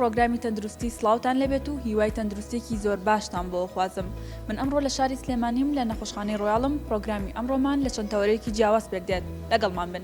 پرۆگرامی تەندروستی سلااوان لەبێت و هیوای تەندروستێکی زۆر باشتان بۆ خوازم من ئەمڕۆ لە شاری سلێمانیم لە نەخۆشخانەی ڕۆیاڵم پرۆگرامی ئەمڕۆمان لە چەند تەوەرێکی جیاواز پێک دێت لەگەڵمان بن.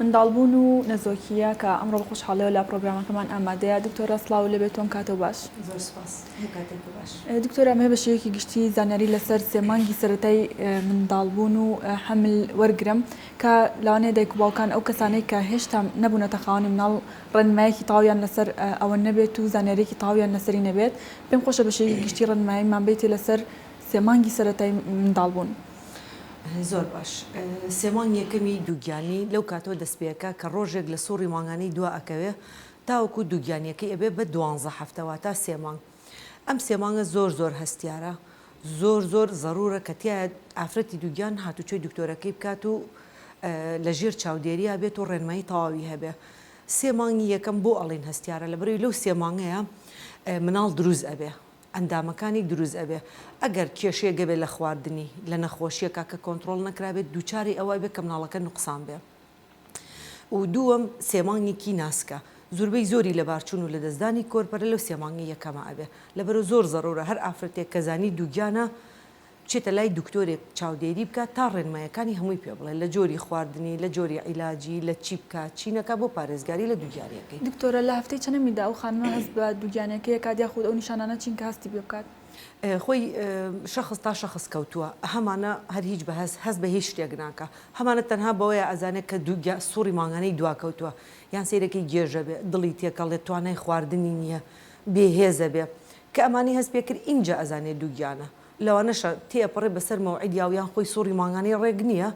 منداڵبوون و نەزۆکییە کە ئەمڕۆ بە خۆشحاڵیەوە لە پڕۆگرامەکەمان ئامادەیە دکتۆرە سڵاو لێبێت تۆم کاتەو باش. زۆر سوپاس هەر کاتێک و باش. دکتۆرە ئەمەوێ بە شێوەیەکی گشتی زانیاری لەسەر سێ مانگی سەرەتای منداڵبوون و حەمل وەرگرم کە لەوانەیە دایک و باوکان ئەو کەسانەی کە هێشتا نەبوونەتە خاوەنی مناڵ ڕێنمایەکی تەواویان لەسەر ئەوە نەبێت و زانیاریەکی تەواویان لەسەری نەبێت پێم خۆشە بە شێوەیەکی گشتی ڕێنماییمان بەیتێ لەسەر سێ مانگی سەرەتای منداڵبوون. زۆر باش. سێ مانگی یەکەمی دووگیانی لەو کاتەوە دەست پێئەکا کە ڕۆژێک لە سوڕی مانگانەی دوا ئەکەوێ تاوەکو دووگیانیەکەی ئەبێ بە دوانزە هەفتە واتا سێ مانگ. ئەم سێ مانگە زۆر زۆر هەستیارە زۆر زۆر زەرورە کە تیایا ئافرەتی دووگیان هاتوچۆی دکتۆرەکەی بکات و لە ژێر چاودێریا بێت و ڕێنمایی تەواوی هەبێ. سێ مانگی یەکەم بۆ ئەڵێین هەستیارە لەبەرەوی لەو سێ مانگەیا مناڵ دروست ئەبێ ئەندامەکانی دروست ئەبێ ئەگەر کێشەیەک هەبێت لە خواردنی لە نەخۆشیەکە کە کۆنتڕۆڵ نەکرابێت دووچاری ئەوە ئەبێت کە مناڵەکە نوقسان بێ و دووەم سێ مانگێکی ناسکە زوربەی زۆری لەبارچون و لەدەستدانی کۆرپەلە لەو سێ مانگە یەکەمە ئەبێ لەبەرو زۆر زەرورە هەر ئافرەتێک کە زانی دووگیانە بچێتە لای دکتۆرێک چاودێری بکات تا ڕێنمایەکانی هەمووی پێ بڵێت لە جۆری خواردنی، لە جۆری عیلاجی، لە چی بکات چی نەکات بۆ پارێزگاری لە دووگیانیەکەی. دکتۆرە لە هەفتەی چەنەمیدا ئەو خانمە هەست بە دووگیانیەکەی ئەکات یاخود ئەو نیشانانە چین کە هەستی پێ بکات؟ خۆی شەخس تا شەخس کەوتووە هەمانە هەر هیچ بە هەست هەست بە هیچ شتێک ناکا هەمانە تەنها بەوەیە ئەزانێت کە دووگیا سوڕی مانگانەی دوا کەوتووە یان سەیرەکەی گێژە بێ دڵی تێکەڵێت توانای خواردنی نییە بێ هێزە بێ کە ئەمانی هەست پێ کرد ئینجا ئەزانێت دووگیانە لەوانەشە تێئەپەڕێ بەسەر مەوعید یاو یان خۆی سوڕی مانگانەی ڕێک نییە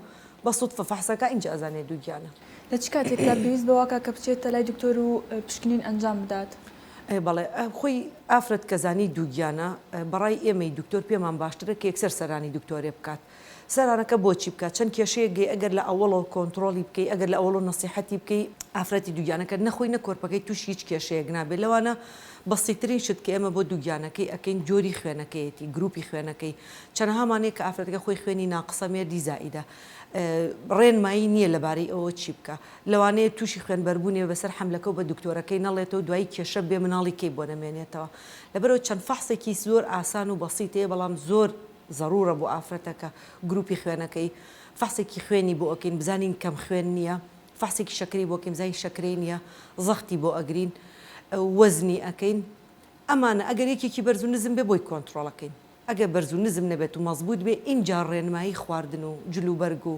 بە سوتفە فەحسەکا ئینجا ئەزانێ دووگیانە. لە چ کاتێکدا پێویست بە واکە کە بچێتە لای دکتۆر و پشکنین ئەنجام بدات؟ ئەی بەڵێ خۆی ئافرەت کە زانی دووگیانە بەڕای ئێمەی دکتۆر پێمان باشترە کە یەکسەر سەرانی دکتۆرێ بکات سەرانەکە بۆچی بکات چەند کێشەیەک گەی ئەگەر لە ئەوەڵەوە کۆنتڕۆڵی بکەی ئەگەر لە ئەوەڵەوە نەسیحەتی بکەی ئافرەتی دووگیانەکەت نەخۆی نە کۆرپەکەی تووشی هیچ کێشەیەک نابێت لەوانە بەسیترین شت کە ئێمە بۆ دووگیانەکەی ئەکەین جۆری خوێنەکەیەتی گروپی خوێنەکەی چەنەها مانەیە کە ئافرەتەکە خۆی خوێنی ناقسە مێردی زائیدە ڕێنمایی نییە لەبارەی ئەوە چی بکە لەوانەیە تووشی خوێنبەربوونێ بەسەر حەملەکە و بە دکتۆرەکەی نەڵێتەوە دوایی کێشە بێ مناڵی کەی بۆ نەمێنێتەوە لەبەرەوە چەند فەحسێکی زۆر ئاسان و بەسیتەیە بەڵام زۆر زەرورە بۆ ئافرەتەکە گروپی خوێنەکەی فەحسێکی خوێنی بۆ ئەکەین بزانین کەم خوێن نیە فەحسێکی شەکرەی بۆ ئەکەین بزانین شەکرەی نیە زەختی بۆ ئەگرین وەزنی ئەکەین ئەمانە ئەگەر یەکێکی بەرز و نزم بێ بۆی کۆنتڕۆڵەکەین ئەگەر بەرز و نزم نەبێت و مەزبوت بێ ئینجا ڕێنمایی خواردن و جلوبەرگ و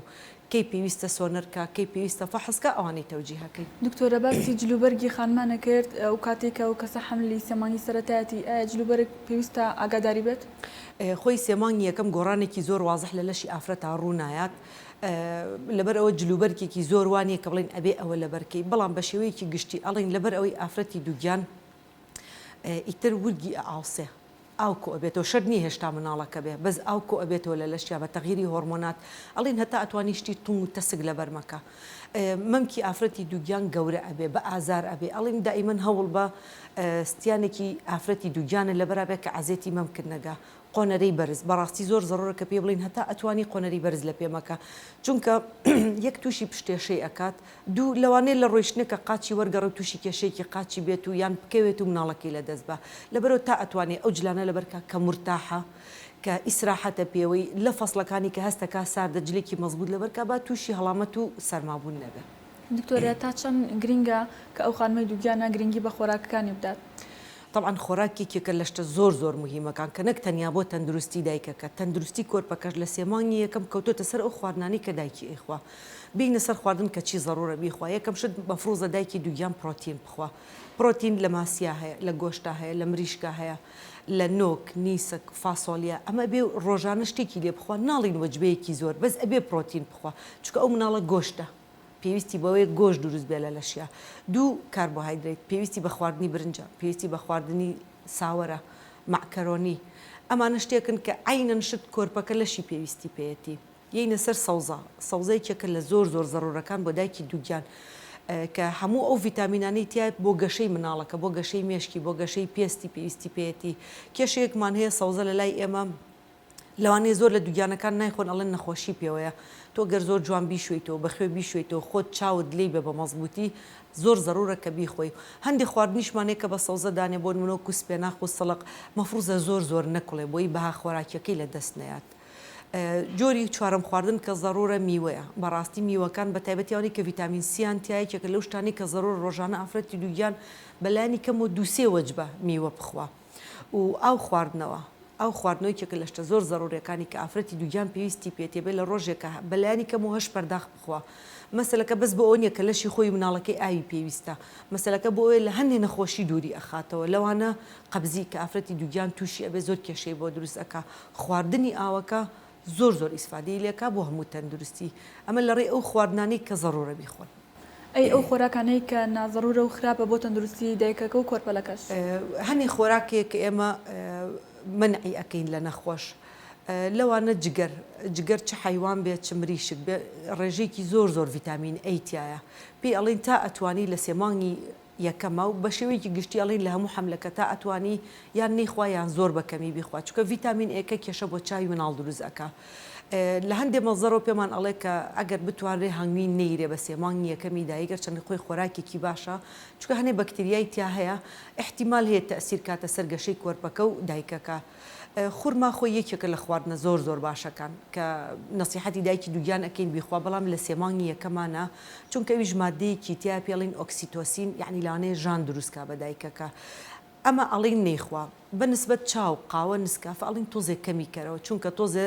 کەی پێویستە سۆنەرکە کەی پێویستە فەحسکە ئەوانەی تەوجیهەکەی. دکتۆرە باسی جلوبەرگی خانمان ئەکرد ئەو کاتەی کە ئەو کەسە حەملی سێ مانگی سەرەتایەتی ئایا جلوبەرگ پێویستە ئاگاداری بێت؟ خۆی سێ مانگی یەکەم گۆڕانێکی زۆر وازح لە لەشی ئافرەتا ڕوو نایات لەبەر ئەوە جلوبەرگێکی زۆر وانیە کە بڵێن ئەبێ ئەوە لەبەرکەی بەڵام بە شێوەیەکی گشتی ئەڵێن لەبەر ئەوەی ئافرەتی دووگیان ئیتر ورگی ئەئاوسێ ئاو کۆئەبێتەوە شەرت نیە هێشتا مناڵەکە بێ بەس ئاو کۆئەبێتەوە لە لەشیا بە تەغیری هۆڕمۆنات ئەڵێن هەتا ئەتوانی شتی توند و تەسک لەبەر مەکە مەمکی ئافرەتی دووگیان گەورە ئەبێ بە ئازار ئەبێ ئەڵێن دائیمەن هەوڵ بە ستیانێکی ئافرەتی دووگیانە لەبەرابێ کە عەزێتی مەمکت نەگا قۆنەرەی بەرز بەڕاستی زۆر زەڕۆرە کە پێی بڵێین هەتا ئەتوانی قۆنەرەی بەرز لە پێ مەکە چونکە یەک توشی پشتێشەی ئەکات دوو لەوانەیە لە ڕۆیشتنەکە قاچی وەرگەڕێ و توشی کێشەیەکی قاچی بێت و یان بکەوێت و مناڵەکەی لە دەست با لەبەرو تا ئەتوانێ ئەو جلانە لەبەر کا کە مورتاحە کە ئیسراحەتە پێوەی لە فەسڵەکانی کە هەستە کا ساردە جلێکی مەزبوت لەبەر کا با توشی هەڵامەت و سەرما بون نەبێ. دکتۆر تا چەند گرینگە کە ئەو خانمەی دووگیانە گرینگی بە خۆراکەکانی بدات؟ تەبعەن خۆراک یەکێکە لە شتە زۆر زۆر موهیمەکان کە نەک تەنیا بۆ تەندروستی دایکەکە، تەندروستی کۆرپەکەش لە سێ مانگی یەکەم کەوتۆتە سەر ئەو خواردنانەی کە دایکی ئەیخوا بینە سەر خواردن کە چی زەرورە بیخوا یەکەم شت مەفروزە دایکی دوگیان پرۆتین بخوا پرۆتین لە ماسیا هەیە لە گۆشتا هەیە لە مریشکا هەیە لە نۆک نیسک فاسۆلیا ئەمە ئەبێ رۆژانە شتێکی لێ بخوا ناڵین وەجبەیەکی زۆر بەس ئەبێ پرۆتین بخوا چونکە ئەو مناڵە گۆشتە پێویستی بەوەیە گۆشت دروست بێت لە لەشیا. دوو، کاربۆهایدرەیت، پێویستی بە خواردنی برنجە، پێویستی بە خواردنی ساوەرە، مەعکەرۆنی. ئەمانە شتێکن کە عەینەن شت کۆرپەکە لەشی پێویستی پێیەتی. یەینە سەر سەوزە، سەوزە یەکێکە لە زۆر زۆر زەروورەکان بۆ دایکی دووگیان کە هەموو ئەو ڤیتامینانەی تیایە بۆ گەشەی مناڵەکە، بۆ گەشەی مێشکی، بۆ گەشەی پێستی پێویستی پێیەتی. کێشەیەکمان هەیە سەوزە لە لای ئێمە لەوانەیە زۆر لە دوگیانەکان نایخۆن ئەڵێن نەخۆشی پێوەیە تۆ گەر زۆر جوان بیشۆیتەوە بەخوێ بیشۆیتەوە خۆت چاوت لێی بە بەمەزبوتی زۆر زەرورە کە بیخۆی هەندێ خواردنیشمان هەیە کە بە سەوزە دانێ بۆ نمونە وەکو سپێناخ و سڵق مەفروزە زۆر زۆر نەکوڵێ بۆی بەها خۆراکیەکەی لە دەست نەیات جۆری چوارەم خواردن کە زەرورە میوەیە بەڕاستی میوەکان بە تایبەتی ئەوانەی کە ڤیتامین سیان تیا یەکێکە لەو شتانەی کە زەرورە ڕۆژانە ئافرەتی دوگیان بە لانی کەم و دوو سێ وەجبە میوە بخوا. و ئاو خواردنەوە ئاو خواردنەوە یەکێکە لە شتە زۆر زەرورەکانی کە ئافرەتی دووگیان پێویستی پێتی بێت لە ڕۆژێکا بە لایەنی کەم و هەشت پەرداخ بخوا مەسەلەکە بەس بۆ ئەوە نیە کە لەشی خۆی و مناڵەکەی ئاوی پێویستە مەسەلەکە بۆ ئەوەیە لە هەندێ نەخۆشی دووری ئەخاتەوە لەوانە قەبزی کە ئافرەتی دووگیان تووشی ئەبێت زۆر کێشەی بۆ دروست ئەکا خواردنی ئاوەکە زۆر زۆر ئیسفادەی لێکە بۆ هەموو تەندروستی ئەمە لەڕێی ئەو خواردنانەی کە زەڕوورە بیخۆن. ئەی ئەو خۆراکانەی کە نازەڕوورە و خراپە بۆ تەندروستی دایکەکە و کۆرپەلەکەش؟ هەنێ خۆراکێک کە ئێمە مەنعی ئەکەین لە نەخۆش لەوانە جگەر جگەر چ حەیوان بێت چ مریشک بێت ڕێژەیەکی زۆر زۆر ڤیتامین ئەی تیایە پێی ئەڵێن تا ئەتوانی لە سێ مانگی یەکەمە و بەشێوەیەکی گشتی ئەڵێن لە هەموو حەملەکە تا ئەتوانی یان نەیخوا یان زۆر بە کەمی بیخوا چونکە ڤیتامین ئێکە کێشە بۆ چاوی مناڵ دروست ئەکا لە هەندێ مەزەرەوە پێمان ئەڵێ کە ئەگەر بتوانرێ هەنگوین نەیرێ بە سێ مانگی یەکەمی دایک گەرچەندە خۆی خۆراکێکی باشە چونکە هەنێ بەکتریای تیا هەیە ئیحتیمال هەیە تەئسیر کاتە سەر گەشەی کۆرپەکە و دایکەکە. خورما خۆی یەکێکە لە خواردنە زۆر زۆر باشەکان کە نەسیحەتی دایکی دووگیان ئەکەین بیخوا بەڵام لە سێ مانگی یەکەما نا چونکە ئەویش ماددەیەکی تیایە پێڵین ئۆکسیتۆسین یەعنی لەوانەیە ژان دروست کا بە دایکەکە ئەمە ئەڵین نەیخوا بە نسبەت چاو قاوە نسکافە ئەڵین تۆزێ کەمی کەرەوە چونکە تۆزێ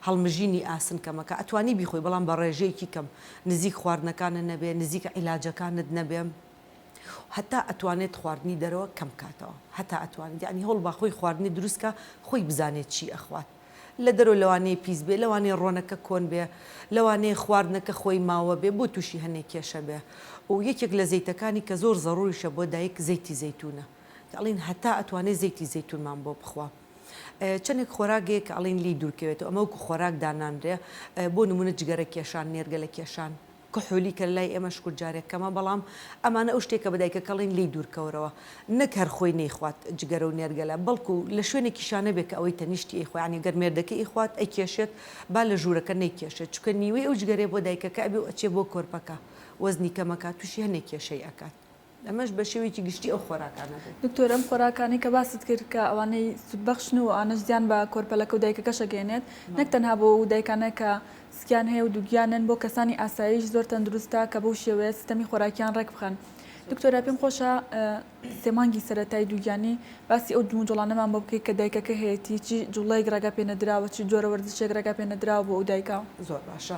هەڵمژینی ئاسن کەمەکە ئەتوانی بیخۆی بەڵام بە ڕێژەیەکی کەم نزیک خواردنەکانت نەبێ نزیک عیلاجەکانت نەبێ هەتا ئەتوانێت خواردنی دەرەوە کەم بکاتەوە هەتا ئەتوانێت یانی هەوڵبا خۆی خواردنی دروست کا خۆی بزانێت چی ئەخوات لە دەرەوە لەوانەیە پیس بێ لەوانەیە ڕۆنەکە کۆن بێ لەوانەیە خواردنەکە خۆی ماوە بێ بۆ تووشی هەنێ کێشە بێ و یەکێک لە زەیتەکانی کە زۆر زەڕوریشە بۆ دایک زەیتی زەیتونە کە ئەڵین هەتا ئەتوانێت زەیتی زەیتونمان بۆ بخوا چەندێک خۆراک هەیە کە ئەڵین لی دوورکەوێتەوە ئەمە وەکو خۆراک دانانرێ بۆ نمونە جگەرە کێشان نێرگەلە کێشان کحولی کە لای ئێمە شکور جارێک کەمە بەڵام ئەمانە ئەو شتێکە بە دایکەکەڵین لێی دوورکەورەوە نەک هەر خۆی نەیخوات جگەرە و نێرگەلە بەڵکو لە شوێنێکیشا نەبێ کە ئەوەی تەنیشتی ئەیخوا یانی گەر مێردەکەی ئەیخوات ئەیکێشێت با لە ژوورەکە نەیکێشێت چونکە نیوەی ئەو جگەرەیە بۆ دایکەکە ئەبێ و ئەچێ بۆ کۆرپەکە وەزنی کەمەکات توشی هەنێ کێشەی ئەکات ئەمەش بە شێوەیەکی گشتی ئەو خۆراکانە بوو. دکتۆر ئەم خۆراکانەی کە باست کرد کە ئەوانەی سوود بەخشن و ئەوانەش زیان بە کۆرپەلەکە و دایکەکەش ئەگەیەنێت نەک تەنها بۆ ئەو دایکانە کە سکیان هەیە و دووگیانن بۆ کەسانی ئاساییش زۆر تەندروستە کە بەو شێوەیە سیستەمی خۆراکیان ڕێک بخەن دکتۆرە پێم خۆشە سێ مانگی سەرەتای دووگیانی باسی ئەو جموجوڵانەمان بۆ بکەیت کە دایکەکە هەیەتی چی جوڵەیەک ڕێگا پێ نەدراوە چی جۆرە وەرزشێک ڕێگا پێ نەدراوە بۆ ئەو دایکە. زۆر باشە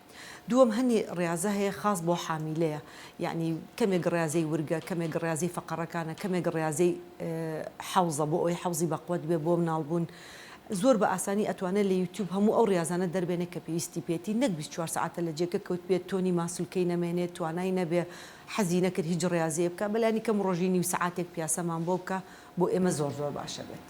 دووەم هەنێ ڕیازە هەیە خاس بۆ حامیلەیە یەعنی کەمێک ڕیازەی ورگە کەمێک ڕیازەی فەقەڕەکانە کەمێک ڕیازەی حەوزە بۆ ئەوەی حەوزی بەقوەت بێ بۆ مناڵ بوون زۆر بە ئاسانی ئەتوانێ لە یوتیوب هەموو ئەو ڕیازانە دەربێنێ کە پێویستی پێتی نەک بیست چوار سەعاتە لە جێگە کەوت بێ تۆنی ماسولکەی نەمێنێ توانای نەبێ حەزی نەکرد هیچ ڕیازەیە بکا بەلانی کەم ڕۆژی نیو سەعاتێک پیاسەمان بۆ بکا بۆ ئێمە زۆر زۆر باشە بێت.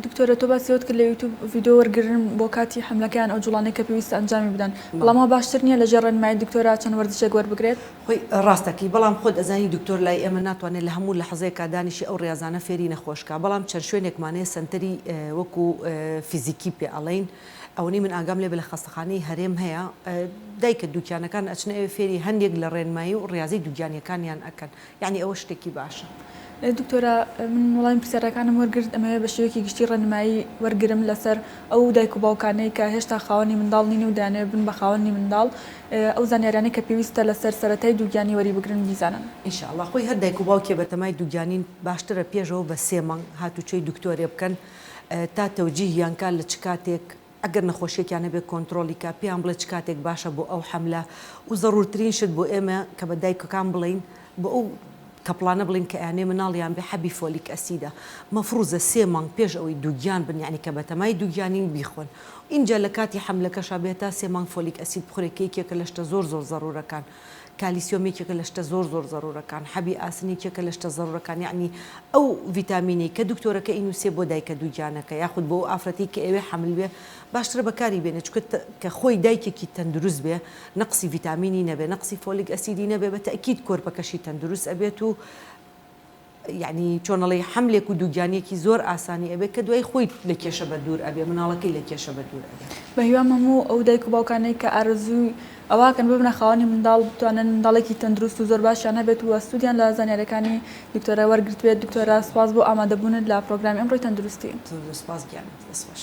دکتۆرە تۆ باسی ئەوەت کرد لە یوتوب ڤیدیۆ وەرگرن بۆ کاتی حەملەکە یان ئەو جوڵانەی کە پێویستە ئەنجامی بدەن بەڵام وا باشتر نییە لەژێر ڕێنمایی دکتۆرا چەند وەرزشێک وەربگرێت؟ خۆی ڕاست دەکەی بەڵام خۆت ئەزانی دکتۆر لای ئێمە ناتوانێت لە هەموو لەحزەیەکا دانیشێ ئەو ڕیازانە فێری نەخۆش کا بەڵام چەند شوێنێکمان هەیە سەنتەری وەکو فیزیکی پێ ئەڵێین ئەوەنەی من ئاگام لێ بێ لە خەستەخانەی هەرێم هەیە دایکە دووگیانەکان ئەچنە ئەوێ فێری هەندێک لە ڕێنمایی و ڕیازی دووگیانیەکانیان ئەکەن یانی ئەوە شتێکی باشە. دکتۆرە من وەڵامی پرسیارەکانم وەرگرت ئەمەوێت بە شێوەیەکی گشتی ڕێنمایی وەرگرم لەسەر ئەو دایک و باوکانەی کە هێشتا خاوەنی منداڵ نین و دەیانەوێت بن بە خاوەنی منداڵ ئەو زانیاریانەی کە پێویستە لەسەر سەرەتای دووگیانی وەری بگرن بیزانن. ان شاء اللە خۆی هەر دایک و باوکێ بە تەمای دووگیانین باشترە پێشەوە بە سێ مانگ هاتوچۆی دکتۆرێ بکەن تا تەوجیهیان کا لە چ کاتێک ئەگەر نەخۆشیەکیان هەبێت کۆنترۆڵی کە پێیان بڵێ چ کاتێک باشە بۆ ئەو حەملە و زەڕورترین شت بۆ ئێمە کە بە دایکەکان بڵێین بۆ ئەو کەپڵانە بڵێن کە ئەیانەوێ مناڵیان بێ حەبی فۆلیک ئەسیدە مەفڕوزە سێ مانگ پێش ئەوەی دووگیان بن یانی کە بەتەمای دووگیانین بیخۆن ئینجا لە کاتی حەملەکەشا بە هەتا سێ مانگ فۆلیک ئەسید بخورێ کە یەکێکە لە شتە زۆر زۆر زەڕورەکان کالیسیۆم یەکێکە لە شتە زۆر زۆر زەرورەکان حەبی ئاسن یەکێکە لە شتە زەرورەکان یەعنی ئەو ڤیتامینەی کە دکتۆرەکە ئینوسێ بۆ دایکە دووگیانەکە یاخود بۆ ئەو ئافرەتەی کە ئەوێ حەمل بێ باشترە بەکاری بێنێ چونکە کە خۆی دایکێکی تەندروست بێ نەقسی ڤیتامینی نەبێ نەقسی فۆلیک ئەسیدی نەبێ بە تەئکید کۆرپەکەشی تەندروست ئەبێت و یەعنی چۆن ئەڵێی حەملێک و دووگیانیەکی زۆر ئاسانی ئەبێت کە دوایی خۆی لە کێشە بەدوور ئەبێت مناڵەکەی لە کێشە بەدوور ئەبێت. بە هیوام هەموو ئەو دایک و باوکانەی کە ئارەزووی ئەوەکەن ببنە خاوەنی منداڵ بتوانن منداڵێکی تەندروست و زۆر باشیان هەبێت و سوودیان لە زانیاریەکانی دکتۆرە وەرگرتبێت دکتۆرە سوپاس بۆ ئامادەبوونت لە پرۆگرامی ئەمڕۆی تەندروستی. زۆر زۆر سوپاس گیانە دەستخۆش.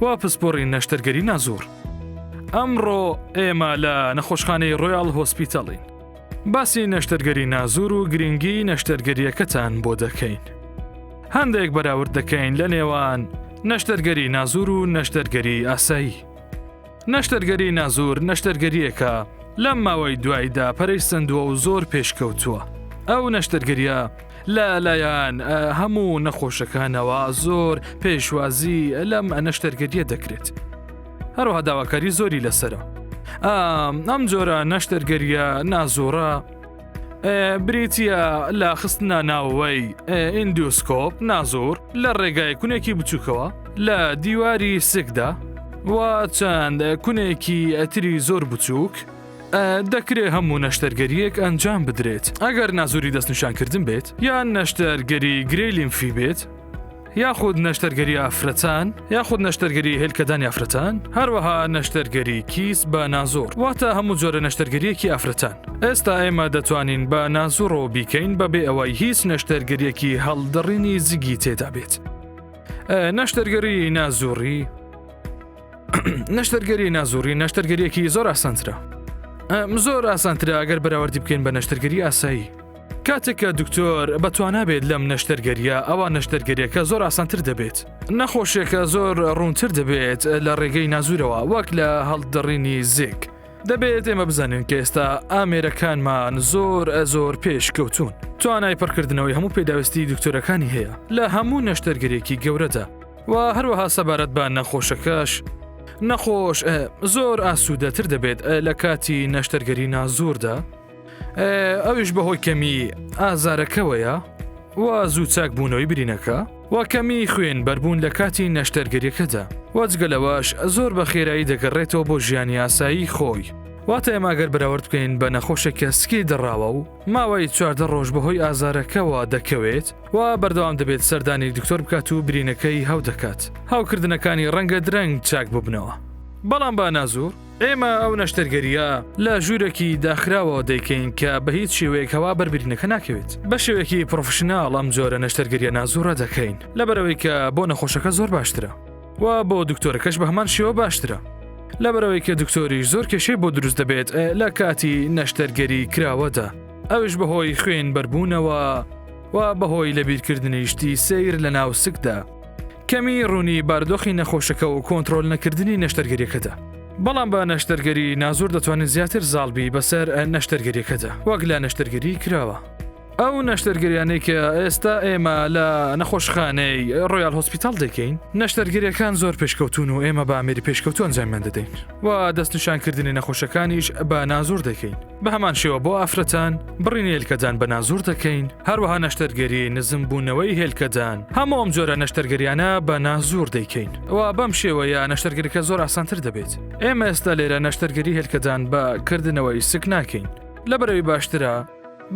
وا پسپۆڕی نەشتەرگەری نازۆر ئەمڕۆ ئێمە لە نەخۆشخانەی ڕۆیاڵ هۆسپیتەڵین باسی نەشتەرگەری نازور و گرنگی نەشتەرگەریەکەتان بۆ دەکەین هەندێک بەراورد دەکەین لە نێوان نەشتەرگەری نازور و نەشتەرگەری ئاسایی نەشتەرگەری نازور نەشتەرگەرییەکە لەم ماوەی دوایدا پەرەی سندووە و زۆر پێشکەوتووە. ئەو نەشتەرگەریە لە لایەن هەموو نەخۆشەکانەوە زۆر پێشوازی لەم نەشتەرگەریە دەکرێت. هەروها داواکاری زۆری لەسرە. ئەم جۆرە نەشتەرگەریە نازۆرە، بریتە لە خستنە ناوەوەی ئیندیوسکۆپ نازۆر لە ڕێگای کونێکی بچووکەوە لە دیواری سکدا و چەند کونێکی ئەتری زۆر بچووک دەکرێت هەموو نەشتەرگەریەک ئەنجام بدرێت ئەگەر نازوری دەستنیشانکردن بێت یان نەشتەرگەری گرێ لیمفی بێت یاخود نەشتەرگەری ئافرەتان یاخود نەشتەرگەری هێلکەدانی ئافرەتان هەروەها نەشتەرگەری کیس بە نازۆر واتە هەموو جۆرە نەشتەرگەریەکی ئافرەتان ئێستا ئێمە دەتوانین بە نازوڕەوە بیکەین بەبێ ئەوەی هیچ نەشتەرگەریەکی هەڵدڕینی زگی تێدا بێت نەشتەرگەری نازوڕی نەشتەرگەری نازوڕی نەشتەرگەریەکی زۆر ئاسانترە زۆر ئاسانترە ئەگەر بەراوردی بکەین بە نەشتەرگەری ئاسایی کاتێک کە دکتۆر بەتوانا بێت لەم نەشتەرگەریە ئەوە نەشتەرگەریەکە زۆر ئاسانتر دەبێت نەخۆشێکە زۆر ڕوونتر دەبێت لە ڕێگەی نازورەوە وەک لە هەڵدڕینی زێک دەبێت ئێمە بزانین کە ئێستا ئامێرەکانمان زۆر ئە زۆر پێش کەوتون توانای پڕکردنەوەی هەموو پێداویستی دکتۆرەکانی هەیە لە هەموو نەشتەرگەرێکی گەورەدا و هەروەها سەبارەت بە نەخۆشەکەش نەخۆش زۆر ئاسوودەتر دەبێت لە کاتی نەشتەرگەری نازوردا ئەویش بەهۆی کەمی ئازارەکەوەیە و زوو چاک بوونەوەی برینەکە و کەمی خوێن بەربوون لە کاتی نەشتەرگەریەکەدا وەجگەلەوەش زۆر بە خێرایی دەگەڕێتەوە بۆ ژیانی ئاسایی خۆی واتە ئێماگەر بەراورد بکەین بە نەخۆشێک کە سکی دەڕاوە و ماوەی چواردە ڕۆژ بەهۆی ئازارەکەەوە دەکەوێت و بەردەوام دەبێت سەردانی دکتۆر بکات و برینەکەی هەو دەکات هاوکردنەکانی ڕەنگە درەنگ چاک ببنەوە بەڵام با نازور ئێمە ئەو نەشتەرگەرییە لە ژوورێکی داخراوەوە دەیکەین کە بە هیچ شێوەیەک هەوا بەربرینەکە ناکەوێت بە شێوەیەکی پرۆفشنناڵ ئەم جۆرە نەشتەرگەریە نازوڕە دەکەین لەبەرەوەی کە بۆ نەخۆشەکە زۆر باشترە و بۆ دکتۆرەکەش بە هەمان شێوە باشترە لەبەرەوەی کە دکتۆری زۆر کێشەی بۆ دروست دەبێت لە کاتی نەشتەرگەری کراوەدا ئەوش بەهۆی خوێن بەربوونەوە و بەهۆی لەبیرکردنیشتی سیر لە ناو سکدا کەمی ڕوونی باردۆخی نەخۆشەکە و کۆنترۆل نەکردنی نەشتەرگەریەکەدا. بەڵام بە نەشتەرگەری نازۆر دەتوانین زیاتر زاڵبی بەسەر نەشتەرگەریەکەدا وەک لە نەشتەرگەری کراوە. ئەو نەشتەرگەریانەی کە ئێستا ئێمە لە نەخۆشخانەی ڕۆیال هۆسپیتاڵ دەیکەین، نەشتەرگەریەکان زۆر پێشکەوتوون و ئێمە بە ئامێری پێشکەوتوو ئەنجامیان دەدەین و دەستنیشانکردنی نەخۆشەکانیش بە نازۆر دەکەین. بە هەمان شێوە بۆ ئافرەتان بڕین هێلکەدان بە نازور دەکەین هەروەها نەشتەرگەری نزم بوونەوەی هێلکەدان هەموو ئەم جۆرە نەشتەرگەریانە بە نازور دەیکەین ئەوە بەم شێوەیە نەشتەرگەرەکە زۆر ئاسانتر دەبێت ئێمە ئێستا لێرە نەشتەرگەری هێلکەدان بە کردنەوەی سک ناکەین لە بەرەوی باشترە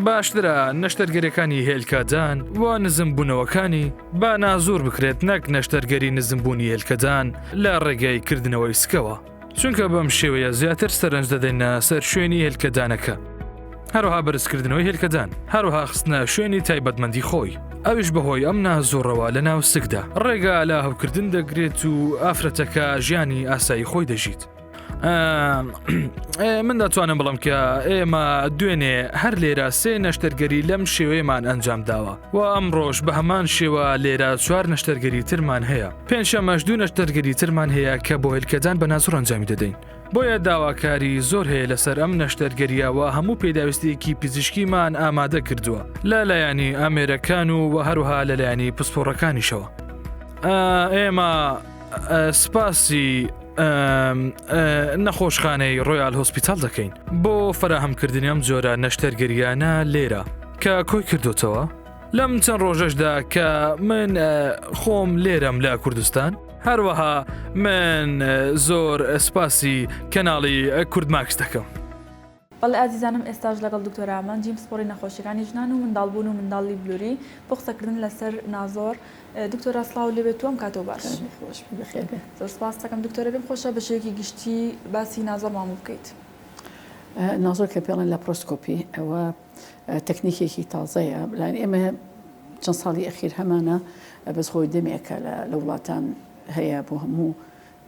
باشترە نەشتەرگەرەکانی هێلکەدان و نزم بوونەوەکانی با نازور بکرێت نەک نەشتەرگەری نزمبوونی هێلکەدان لە ڕێگەی کردنەوەی سکەوە چونکە بەم شێوەیە زیاتر سەرنج دەدەینە سەر شوێنی هێلکەدانەکە. هەروها بەرزکردنەوەی هێلکەدان هەروها خستنە شوێنی تایبەتمەندی خۆی ئەوش بەهۆی ئەم نازۆڕەوە لە ناو سکدا ڕێگا لە هەوکردن دەگرێت و ئافرەتەکە ژیانی ئاسایی خۆی دەژیت. من دەتوانم بڵم کە ئێمە دوێنێ هەر لێرە سێ نەشتەرگەری لەم شێوەیەمان ئەنجام داوە و ئەم ڕۆژ بە هەمان شێوە لێرە چوار نەشتەرگەری ترمان هەیە. پێنجشەممەش دوو نەشتەرگەری ترمان هەیە کە بۆ هێلکەدان بە نازوڕ ئەنجامی دەدەین. بۆیە داواکاری زۆر هەیە لەسەر ئەم نەشتەرگەرییە و هەموو پێداویستییەکی پزیشکیمان ئامادە کردووە لە لایەنی ئامێرەکان و و هەروها لە لایەنی پسپۆڕەکانیشەوە. ئێمە سپاسی نەخۆشخانەی ڕۆیال هۆسپیتال دەکەین بۆ فراهەمکردنی ئەم جۆرە نەشتەرگەریانە لێرە کە کۆی کردوتەوە. لەم چەند ڕۆژەشدا کە من خۆم لێرەم لە کوردستان هەروەها من زۆر سپاسی کەناڵی کورد ماکس دەکەم. بەڵێ ئازیزانم ئێستاش لەگەڵ دکتۆر ئامە جیم پسپۆڕی نەخۆشیەکانی ژنان و منداڵبوون و منداڵی بلوری بۆ قسەکردن لەسەر نازۆر دکتۆرا سڵاو لێبێت و ئەم کاتەوە باش خۆش زۆر سپاس دەکەم دکتۆرە بێم خۆشە بە شێوەیەکی گشتی باسی نازۆرمان بکەیت نازۆر کە پێڵێن لە پرۆسکۆپی ئەوە تەکنیکێکی تازەیە بلان ئێمە چەند ساڵی ئەخیر هەمانە بەس خۆی دەمێکە لە وڵاتان هەیە بۆ هەموو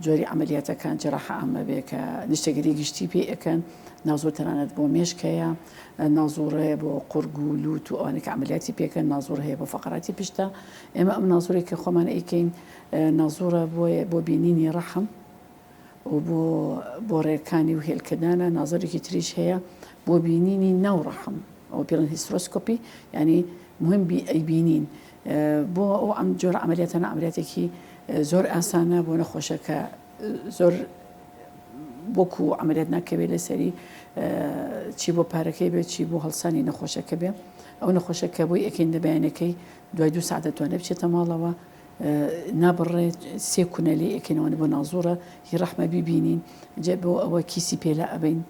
جۆری عملیاتەکان جراح ئامە بێ کە نیشتەگەری گشتی پێ ئەەکەن نازۆ تەنانەت بۆ مێشکەیە نازۆڕەیە بۆ قورگ و لووت و ئەوانێک عملیاتی پێکەن نازۆر هەیە بۆ فقراتی پشتە ئێمە ئەم نازۆرێک کە خۆمان ئەیکەین نازۆرە بۆیە بۆ بینینی ڕەحم و بۆ بۆ ڕێکانی و هێلکەدانە نازەرێکی تریش هەیە بۆ بینینی ناو ڕەحم ئەو پێڵن هیسترۆسکۆپی ینی مهم بی ئەی بینین بۆ ئەو ئەم جۆر ئەمریاتەنە ئەمریاتێکی زۆر ئاسانە بۆ نەخۆشەکە زۆر بۆکو و ئەمریات ناکەوێت لەسەری چی بۆ پارەکەی بێت چی بۆ هەڵسانی نەخۆشەکە بێ ئەو نەخۆشەکە بۆی ئەکەین دەبیانەکەی دوای دو ساعت دەتوانێت بچێتە ماڵەوە نابڕێ سێ کونە لێ ئەکەینەوەە بۆ نازوڕە هی ڕەحمە بیبینین جێ بۆ ئەوە کیسی پێلا ئەبین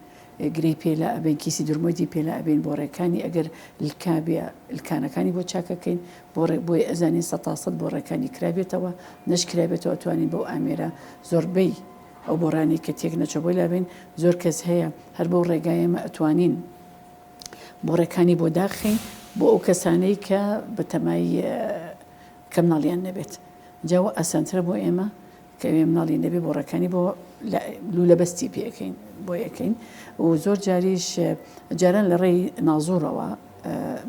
گرەی پێلا ئەبێن کیسی درمۆدی پێلا ئەبین بۆ ڕێکانی ئەگەر لکابێ لکانەکانی بۆ چاکەکەین بۆ ڕێ بۆی ئەزانین سە تاسەد بۆ ڕێکانی کرابێتەوە نەشکرابێتەوە توانین بەو ئامێرە زۆربەی ئەو بۆڕانی کە تێک نەچە بۆی لابێن زۆر کەس هەیە هەر بۆ ڕێگایەمە ئەتوانین بۆ ڕێکانی بۆ داخین بۆ ئەو کەسانەی کە بەتەمای کە مناڵیان نەبێت جا وە ئاسانترە بۆ ئێمە کە ئێمە مناڵی نەبێ بۆ ڕێکانی بۆ لولە بەستی پێکەین بۆ یەکەین و زۆر جاریش جاران لە ڕێی نازۆرەوە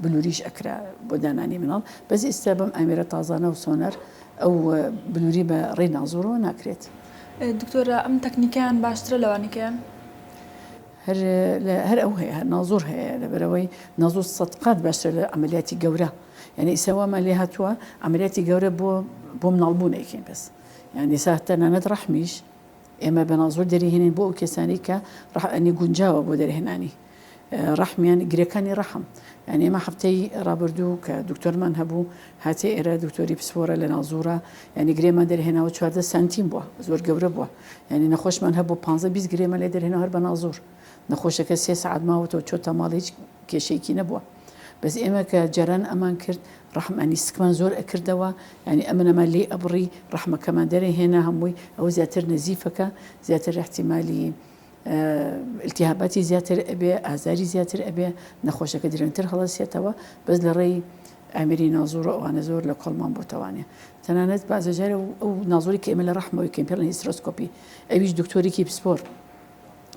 بلوریش ئەکرا بۆ دانانی مناڵ بەس ئێستا بەم ئامێرە تازانە و سۆنەر ئەو بلوری بە ڕێی نازۆرەوە ناکرێت دکتۆرە ئەم تەکنیکیان باشترە لەوانیکەیان هەر هەر ئەو هەیە نازۆر هەیە لەبەرەوەی نازۆر سەد قات باشتر لە عملیاتی گەورە یانی ئیستا وامان لێ هاتووە عەمەلیاتی گەورە بۆ بۆ مناڵبوونێکین بەس یان ئیستا تەنانەت ڕەحمیش ئێمە بەناڵ زۆر دەریهێنین بۆ ئەو کەسانی کە ڕحنی گونجاوە بۆ دەرهێنانی ڕحمیان گرەکانی ڕەحم یان ئێمە هەفتەی ڕابردوو کە دکتۆرمان هەبوو هاتێ ئێرە دکتۆری پسپۆرە لە ناوزورە ینی گرێمان دەرهێناوە چواردە سانتیم بووە زۆر گەورە بووە ینی نەخۆشمان هەبوو 15 گرێمە لێ دەرهێنەوە هەر بە ناوزور نەخۆشەکە سێ سەعات ماوەتەوە چۆتە ماڵ هیچ کێشەیەکی نەبووە بەس ئێمە کە جاران ئەمان کرد ڕەحمانی سکمان زۆر ئەکردەوە ینی ئەمن ئەمان لی ئەبڕی ڕەحمەکەمان دەرێ هێنا هەمووی ئەوە زیاتر نەزیفەکە زیاتر احتیممالی التیهاباتی زیاتر ئەبێ ئازاری زیاتر ئەبێ نەخۆشەکە درەنتر هەڵەسێتەوە بەس لە ڕێی ئامری نازۆرە ئەوانە زۆر لە کۆڵمان بۆتەوانێ تەنانەت بازەجارە ئەو نازۆری کە ئێمە لە ڕەحمەوەی کەمپێڵن هیسترۆسکۆپی ئەویش دکتۆرێکی پسپۆر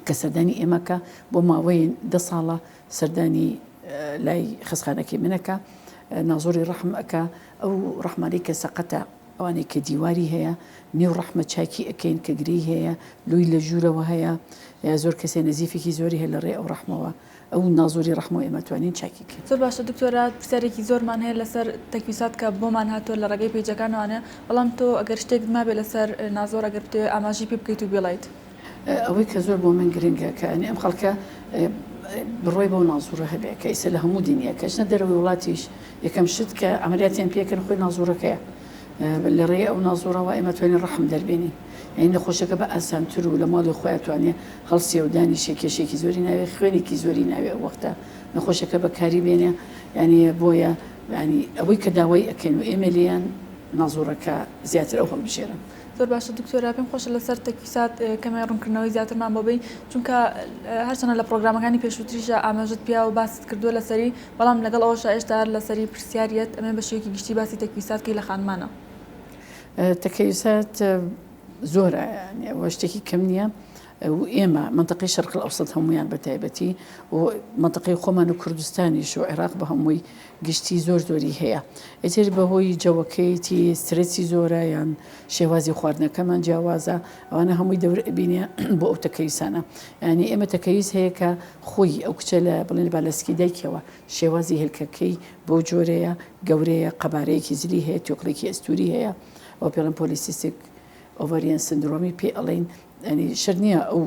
کە سەردانی ئێمەکە بۆ ماوەی دە ساڵە سەردانی لای خەسخانەکەی منەکە نازۆری ڕەحم ئەکا ئەو ڕەحمانی کە سەقەتە ئەوانەی کە دیواری هەیە نێو ڕەحمە چاکی ئەەکەین کە گرێی هەیە لوی لە ژوورەوە هەیە زۆر کەسێ نزیفێکی زۆری هەیە لە ڕێ ئەو ڕەحمەوە ئەو نازۆری ڕەحمە و ئێمە توانین چاکی بکەین. زۆر باشە دکتۆرە پرسیارێکی زۆرمان هەیە لەسەر تەکویسات کە بۆمان هاتووە لە ڕێگەی پەیجەکانەوانە بەڵام تۆ ئەگەر شتێکت مابێ لەسەر نازۆر ئەگەر بتەوێ ئاماژی پێ بکەیت و بیڵێیت. ئەوەی کە زۆر بۆ من گرنگە کە ئەنێ ئەم خەڵکە بڕوای بەو نازوڕە هەبێ کە ئیسە لە هەموو دینیەکەش نە دەرەوەی وڵاتیش یەکەم شت کە عەمەلیاتیان پێکەن خۆی نازوڕەکەیە لە ڕێی ئەو نازو ڕەوا ئێمە توانین ڕەحم دەربێنین یعنی نەخۆشەکە بە ئاسانتر و لە ماڵی خۆیان توانێ هەڵسێ و دانیشێ کێشێکی زۆری ناوێ خوێنێکی زۆری ناوێ ئەو وەختە نەخۆشەکە بەکاری بێنێ یعنی بۆیە ینی ئەوەی کە داوای ئەکەین و ئێمە لێیان نازوڕەکە زیاتر ئەو هەڵبژێرن زۆر باشە دکتۆرا پێم خۆشە لەسەر تەکیسات کەمێ ڕوونکردنەوەی زیاترمان بۆبین چونکە هەرچەنە لە پرۆگرامەکانی پێشووتریشە ئاماژت پیا و باست کردووە لەسەری بەڵام لەگەڵ ئەوەشا ئێشتا هەر لەسەری پرسیاریت ئەمەوێ بە شێوەیەکی گشتی باسی تەکویسات کەی لە خانمانە. تەکەیوسات زۆرە یانی ئەوە شتێکی کەم نییە و ئێمە مەنتەقەی شەرقل ئەوسەد هەمویان بە تایبەتی و مەنتەقەی خۆمان و کوردستانیش و عێراق بە هەمووی گشتی زۆر زۆری هەیە ئیتر بەهۆی جەوەکەیەتی سترەسی زۆرە یان شێوازی خواردنەکەمان جیاوازە ئەوانە هەمووی دەورئەبینێ بۆ ئەو تەکەیوسانە یانی ئێمە تەکەیوس هەیە کە خۆی ئەو کچە لە بڵێن لە بالەسکی دایکیەوە شێوازی هێلکەکەی بەو جۆرەیە گەورەیە قەبارەیەکی زلی هەیە توێکڵێکی ئەستوری هەیە ئەو پێڵم پۆلیسیستێک ئۆڤەریان سندرۆمی پێ ئەڵین ئەنی شەر نییە ئەو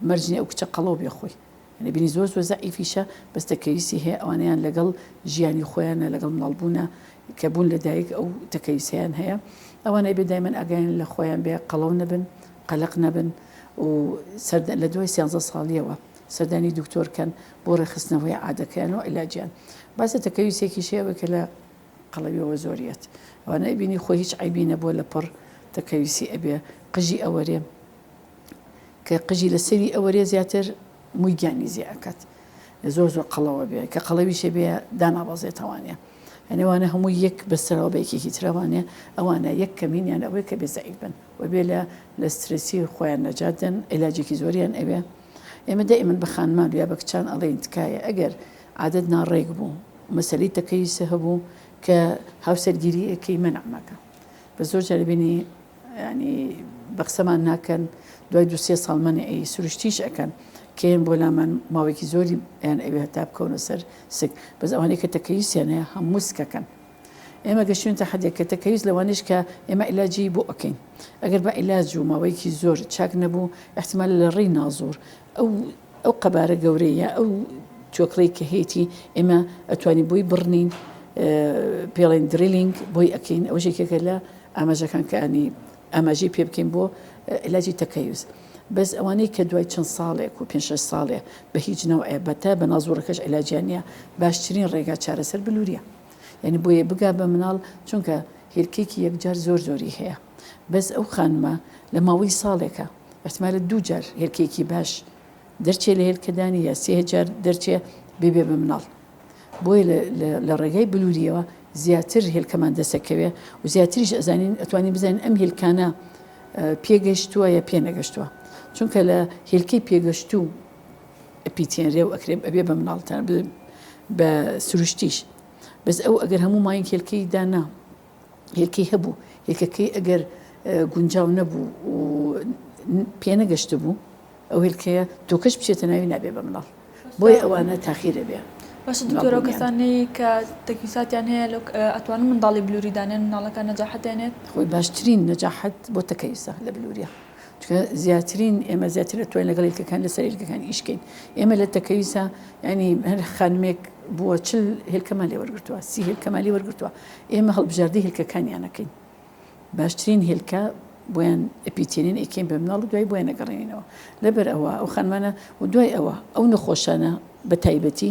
مەرجنی ئەو کچە قەڵەو بێ خۆی ئەنی بینی زۆر زۆر زعیفیشە بەستە کەویسی هەیە ئەوانیان لەگەڵ ژیانی خۆیانە لەگەڵ مناڵبوونە کە بوون لە دایک ئەو تەکەویسیان هەیە ئەوانەی بێ دایمەن ئەگەیان لە خۆیان بێ قەڵەو نەبن قەلەق نەبن و لە دوای سیانزە ساڵیەوە سەردانی دکتۆر کەن بۆ ڕێکخستنەوەی عادەکەیان و عیلاجیان باسە تەکەویسێکیش هەیە ئەوەی کە لە قەڵەویەوە زۆر یەت ئەوانە ئەیبینی خۆی هیچ عەیبی نەبووە لە پڕ تەکەویسی ئەبێ قژی ئەوەرێ کە قژی لە سەری ئەوەرێ زیاتر مووی گیانی زیێ ئەکات زۆر زۆر قەڵەوە بێ کە قەڵەویشێ بێ دانابەزێتەوانە یعنیوانە هەموو یەک بەسەرەوە بە یەکێکی ترەوانێ ئەوانە یەک کەمینیان ئەوەیە کە بێزەعیبن وەبێ لە لە سترێسی خۆیان نەجات دەن ئێلاجێکی زۆریان ئەوێ ئێمە دە ئێمن بە خانمان یا بە کچان ئەڵێن تکایە ئەگەر عادەت ناڕێک بوو مەسەلی تەکەی سە هەبوو کە هاوسەرگیری ئەکەی من ئەمەکە بە زۆر جاربینی ینی بەقسەمان ناکەن دوای دو سێ ساڵ منە ئەی سروشتیش ئەەکەن کێن بۆ لامان ماوەێکی زۆری یان ئەوێ هەتا بکەونە سەر سک بەس ئەوانەی کە تەکەی سێنەیە هەموو سکەکەن ئێمە گەشتوینتە حەدێک کە تەکەیوس لەوانەیش کە ئێمە عیلاجی بۆ ئەکەین ئەگەر بە عیلاج و ماوەیەکی زۆر چاک نەبوو ئیحتیمالە لە ڕێی ناوزۆر ئەو ئەو قەبارە گەورەی یا ئەو توێکڵەی کە هەیەی ئێمە ئەتوانی بۆی بڕنین پێڵێن دریلینگ بۆی ئەکەین ئەو ژێکێکە لە ئاماژەکان کەانی ئاماژەی پێ بکەین بۆ علاجی تەکەیوز بەس ئەوانەی کە دوای چەند ساڵێک و پێ ساڵێ بە هیچ نەوەیە بەتە بە نازۆرەکەش علاجیان نیە باشترین ڕێگا چارەسەر بلووریە یانی بۆیە بگا بە مناڵ چونکە هێلکەیەکی یەکجار زۆر زۆری هەیە بەس ئەو خانمە لە ماوەی ساڵێکە ئەحتمالە دوو جار هێلکەیەکی باش دەرچێ لە هێلکەدانی یا سێ جار دەرچێ ببێ بە مناڵ بۆیە لە ڕێگای بلووریەوە زیاتر هێلکەمان دەسەکەوێ و زیاتریش ئەزانین ئەتوانین بزانین ئەم هێلکانە پێگەشتووە یا پێنەگەشتووە چونکە لە هێلکەی پێگەشتوو ئەپیتێنرێ و ئەکرێ ئەبێ بە مناڵتان بڵێ بە سروشتیش بەس ئەو ئەگەر هەموو ماین هێلکەی دانا هێلکەی هەبوو هێلکەکەی ئەگەر گونجاو نەبوو و پێنەگەشت بوو ئەو هێلکەیە تۆکەش بچێتە ناوی نابێ بە مناڵ بۆی ئەوانە تاخیرە بێ بەس دکتۆرە کەسانی کە تەکیساتیان هەیە لە ئەتوان منداڵی بلووریدانێن مناڵەکە نەجاحەتێنێت خۆی باشترین نەجاحەت بۆ تەکەیسە لە بلووریە چونکە زیاترین ئێمە زیاتر ئەتوانین لەگەڵ ئیلکەکان لەسەر ئیلکەکان ئیش بکەین ئێمە لە تەکەویسا ینی هەر خانمێک بووە چل هێلکەمان لێ وەرگتووە سی هێلکەمان لێ وەرگتووە ئێمە هەڵبژاردی هێلکەکانیانەکەین باشترین هێلکە بۆیان ئەپیتێنین ئەکەین بە مناڵ دوای بۆیان نەگەڕێنینەوە لەبەر ئەوە ئەو خانمانە و دوای ئەوە ئەو نەخۆشانە بە تایبەتی